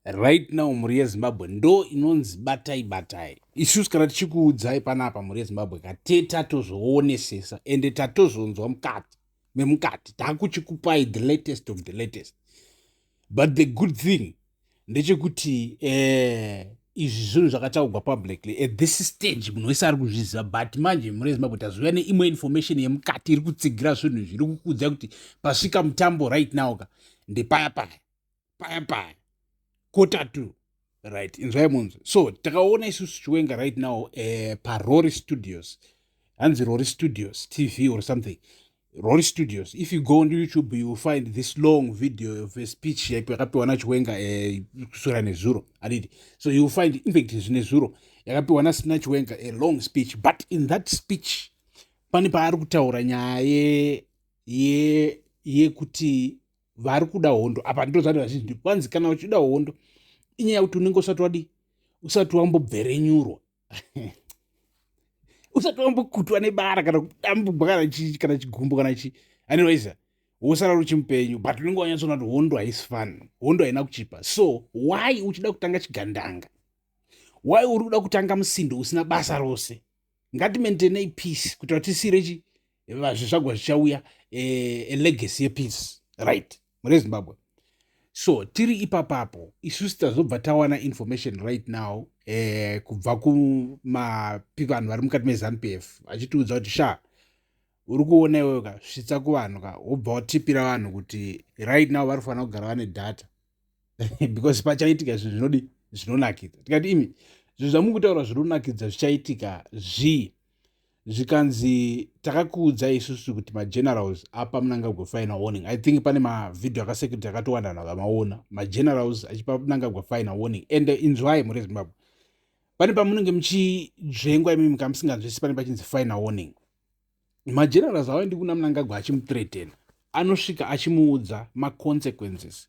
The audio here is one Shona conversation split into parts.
Right now mhuri yeZimbabwe ndo inonzi batai batai. Isusu kana tichikuudzai panapa mhuri yeZimbabwe kate tatozvoonesesa ende tatozonzwa mukati memukati takuchikupai the latest of the latest. But the good thing ndechekuti eh, izvi zvinhu zvakataugwa publicly at this stage munhu wese ari kuzviziva but manje mhuri yezimbabwe taziva neimwe information yemukati iri kutsigira zvinhu izvi iri kukuudzai kuti pasvika mutambo right now ka ndepaya paya paya paya kota two right inzwai munzwe so takaona isusu chiwenga right now uh, parory studios hanzi rory studios tv or something rory studios if you go on youtube you will find this long video of a speech yaipo yakapiwa nachiwenga eh, kusura uh, nezuro adidi so you will find infact zvine zuro yakapiwa nasina chiwenga a long speech but in that speech pane paari kutaura nyaya yekuti ye, ye vari kuda hondo apa ndozvati vazhinji ndi kwanzi kana uchida hondo inyaya kuti unenge usati wadi usati wambobverenyurwa usati wambokutwa nebara kana kudambugwa kana chii kana chigumbu kana chii anywaysa wosara ruchimupenyu but unenge wanyatsoona kuti hondo haisi fun hondo haina kuchipa so why uchida kutanga chigandanga why uri kuda kutanga musindo usina basa rose ngatimaintainei peace kuitira tisire chi vazvizvagwa zvichauya eh, legacy yepeace right mune zimbabwe so tiri ipapapo isusu tazobva tawana information right now eh, kubva kumapi vanhu vari mukati mezanup f achitiudza kuti sha uri kuona iwewe ka svitsa kuvanhu ka wobva watipira vanhu kuti right now vari kufanira kugara vane data because pachaitika zvinhu zvinodi zvinonakidza tikati imi zvinhu zvamuri kutaura zvinonakidza zvichaitika zvii zvikanzi takakuudzai isusu kuti magenerals apa munangagwa final warning i think pane mavhidhio akasecurity akatowanda vanhu vakamaona magenerals achipa munangagwa final warning and inzwai mhuri yezimbabwe pane pamunenge muchidzvengwa imi muka musinganzwisi pane pachinzi final warning magenerals awaendi kuna munangagwa achimutretena anosvika achimuudza maconsequences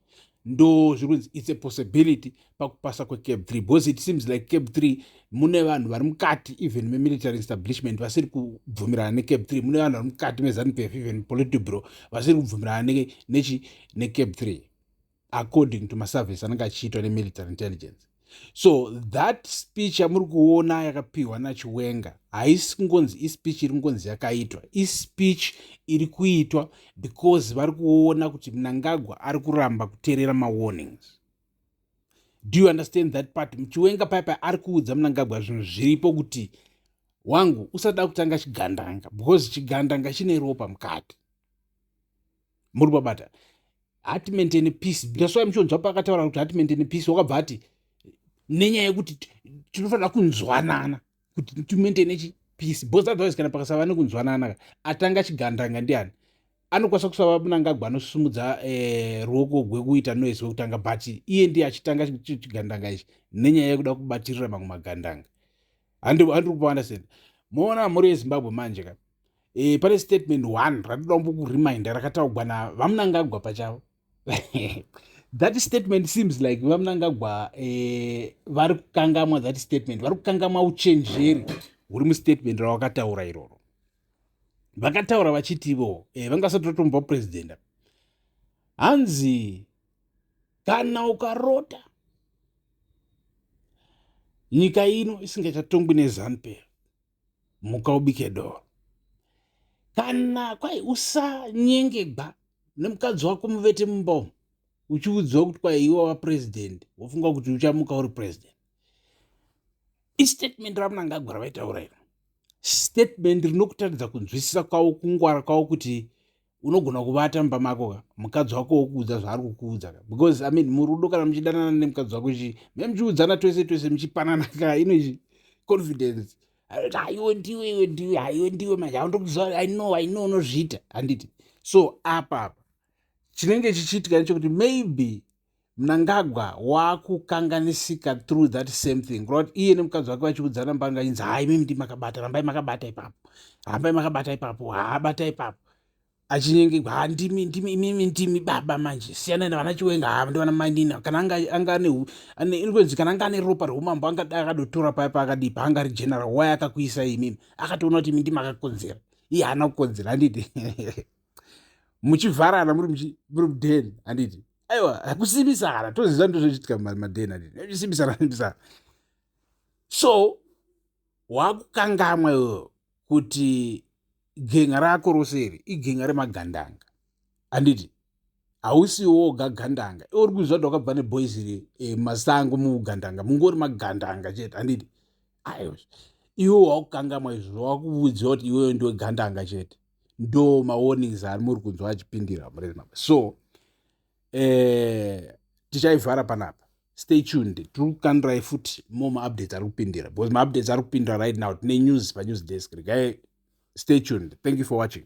ndo zviri kunzi its a possibility pakupasa kwecab three because it seems like cab three mune vanhu vari mukati even memilitary establishment vasiri kubvumirana necab three mune vanhu vari mukati mezanup f even politibro vasiri kubvumirana nechi necab three according to maservice anenge achiitwa nemilitary intelligence so that speech yamuri kuona yakapiwa nachiwenga haisi kungonzi ispeech iri kungonzi yakaitwa ispeech iri kuitwa because vari kuona kuti mnangagwa ari kuramba kuteerera mawarnings do you understand that part muchiwenga paipa ari kuudza mnangagwa zvinhu zviripo kuti wangu usada kutanga chigandanga because chigandanga chine ropa mukati muri babata hati maintain peace that's why muchonzwa paakataura kuti hati maintain peace wakabva ati nenyaya yekuti tinofanira kunzwanana kuti timaintaine chi peace bcause otherwise kana pakasava nekunzwanana ka atanga chigandanga ndiani anokwanisa kusava munangagwa anosimudza eh, ruoko gwekuita noise wekutanga but iye ndiye achitanga chigandanga ichi nenyaya yekuda kubatirira mamwe magandanga handiri kupaunderstand moona mhuri yezimbabwe manje ka e, pane statement one ratoda kumbokuriminder rakataugwa na vamunangagwa pachavo that statement seems like vamunangagwa eh, vari kukangamwa that statement vari kukangamwa uchenjeri huri mustatement rawakataura iroro vakataura vachitivo eh, vangasati vatomba president hanzi kana ukarota nyika ino isingachatongwi nezanupel muka ubike doro kana kwai usanyengegwa nemukadzi wako muvete mumba uchiudziwa kuti kwai iwe wa president wofunga kuti uchamuka uri president istatement ramunangagwa ravaitaura iro statement rinokutaridza kunzwisisa kwavo kungwara kwavo kuti unogona kuvata mumba mako ka mukadzi wako wokuudza zvaari kukuudza ka because i mean murudo kana muchidanana nemukadzi wako chi me muchiudzana twese twese muchipanana ka ino chi confidence aiwe ndiwe iwe ndiwe aiwe ndiwe manje aundokuziva i know i know unozviita handiti so apa apa chinenge chichiitika nechekuti maybe mnangagwa wakukanganisika through that same thing kura kuti iye nemukadzi wake vachiudzana mbanga inzi haa imimi ndi makabata rambai makabata ipapo rambai makabata ipapo haa bata ipapo achinyengegwa haa ndimi ndimi imimi ndimi baba manje siyanai navana chiwenga haa ndivana mainina kana anga anga ane inonzi kana anga ane ropa reumambo anga dai akadotora paya paakadii paanga ari general wai akakuisai imimi akatoona kuti imi ndimakakonzera iye haana kukonzera handiti muchivharana muri muri muden handiti aiwa hakusimbisana toziva ndozvochiitika maden handiti simbisana simbisana so wakukangamwa iwewo kuti genga rako rose iri igenga remagandanga handiti hausi woga gandanga iwe uri kuziva kuti wakabva neboys iri eh, masango mugandanga mungori magandanga chete handiti aiwa iwe wakukangamwa izvozvo wakuvudziwa kuti iwewe ndiwe gandanga chete ndo mawarnings ari muri kunzwa achipindira murema so eh, tichaivhara panapa stay tuned tiri kukandirai futi mo maupdates ari kupindira because maupdates ari kupindira right now tine news panews desk regai stay tuned thank you for watching